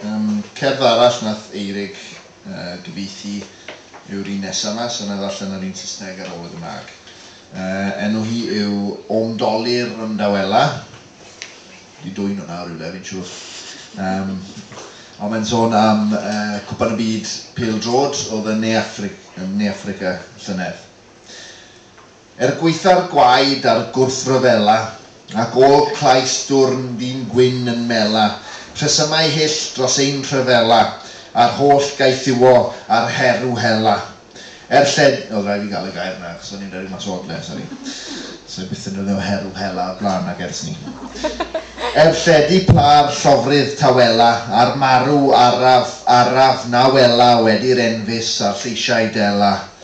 Um, cerdd arall nath Eirig uh, gyfeithi yw'r un nesaf yma, so na ddarllen yr un Saesneg ar ôl y Gymraeg. Uh, enw hi yw Omdoli'r Ymdawela. Di dwy'n hwnna o rywle, fi'n siŵr. Um, ond mae'n sôn am uh, cwpan y byd pil drod oedd yn Ne, Afri ne Africa llynedd. Er gwaetha'r gwaed a'r gwrthryfela, Ac ôl clais dwrn ddyn gwyn yn mela, Rhesymau hyll dros ein rhyfela, A'r holl gaethiwo a'r herw hela. Er lled-. O, rhaid fi gael y gair 'na, achos o'n i'n rhedeg mas o odle, sori. Sa i byth yn defnyddio herw hela o'r blaen nag ers 'ny. Er lledu pâr llofrudd tawela, A'r marw araf, araf na wela, Wedi'r enfys a'r lleisiau dela.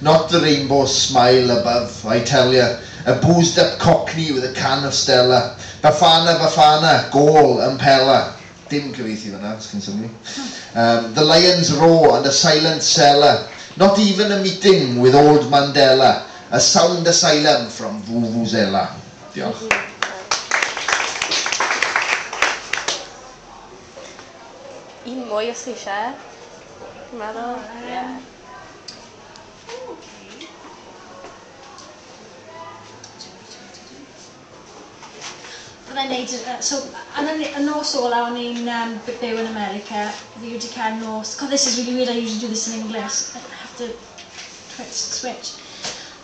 Not the rainbow smile above, I tell ya, A boozed up cockney with a can of Stella, Bafana Bafana, gôl ym Pella Dim cyfieithu fanna, os chi'n synnu. Yym, The lions roar and a silent seller, Not even a meeting with old Mandela, A sound asylum from Vuvuzela. Diolch. Un mwy os chi isie. Chi'n meddwl? Ie. Fyddai'n wneud y... yy so yn y y nos ola' o'n i'n yym b- byw yn America fi wedi cael nos... God this is really weird, I usually do this in English, I have to twitch the switch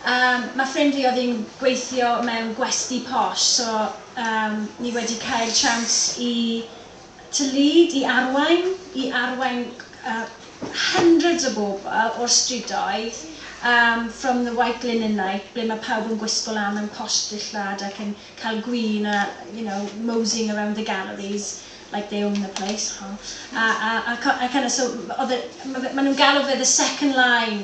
Yym ma' ffrind fi oedd hi'n gweithio mewn gwesty posh so yym ni wedi cael tsiawns i to lead, i arwain, i arwain hundreds o bobl o'r strydoedd yym from the white linen night ble mae pawb yn gwisgo lan mewn posh dillad ac yn cael gwin a you know moseying around the galleries like they own the place ho a a a a kind of so oedd e ma' fe ma' nhw'n galw fe the second line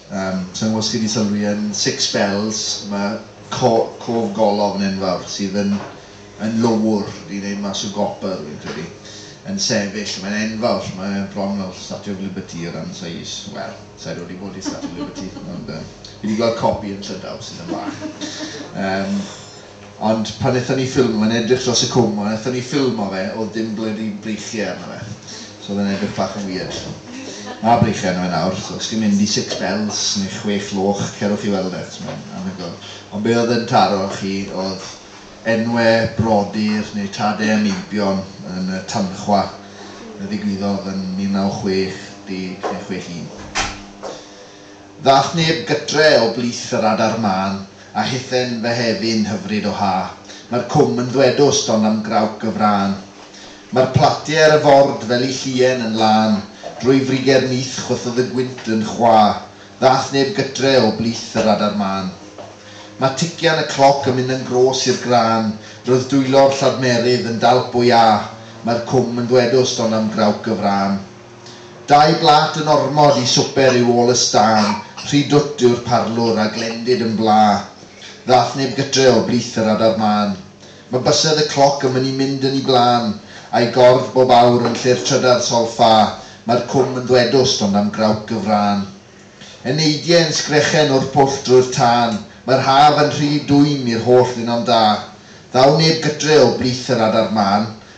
Yym, sa i'n gwbod os chi 'di sylwi yn Six Bells ma' co- cof golofn enfawr sydd yn yn lowr i wneud mas o gopr fi'n credu yn sefyll, mae'n enfawr, mae e bron fel Statue of Liberty o ran seis, wel, sa i rioed 'di bod i Statue of Liberty ond yym fi 'di gweld copi yn Llydaw sydd yn fach. Yym. Ond pan nethon ni ffilmio fe, o'n i'n edrych dros y cwm, ond nethon ni ffilmo fe, o'dd dim blydi breichie arno fe. So o'dd e'n edrych bach yn wierd. Ma' breichie arno fe nawr, so os chi'n mynd i Six Bells neu Chwech Loch, cerwch i weld e, achos mae'n anhygoel. Ond be' o'dd yn taro chi o'dd enwe brodyr neu tade a meibion yn y tanchwa a ddigwyddodd yn 1960 neu chwech un. Ddath neb gytre o blith yr adar mân a hithen fy hefin hyfryd o ha. Mae'r cwm yn ddwedw stond am grawc y frân. Mae'r platie ar y ford fel i llien yn lân, drwy friger nyth chwythodd y gwynt yn chwa, ddath neb gytre o blith yr adar mân. Mae tician y cloc yn mynd yn gros i'r grân, roedd dwylo'r lladmerydd yn dalp o iâ, mae'r cwm yn ddwedw stond am grawc y frân. Dau blât yn ormod i swper yw ôl y stân, rhy dwt yw'r parlwr a glendid yn bla. Ddaeth neb gytre o blith yr adar mân. Mae bysedd y cloc yn mynnu mynd yn 'i blân, a'i gordd bob awr yn lle'r trydar solffa, mae'r cwm yn ddwedwst ond am grawc y frân. Eneidie yn sgrechen o'r pwll drwy'r tân, mae'r haf yn rhy dwym i'r holl ddinom da. Ddaw neb gytre o blith yr adar mân,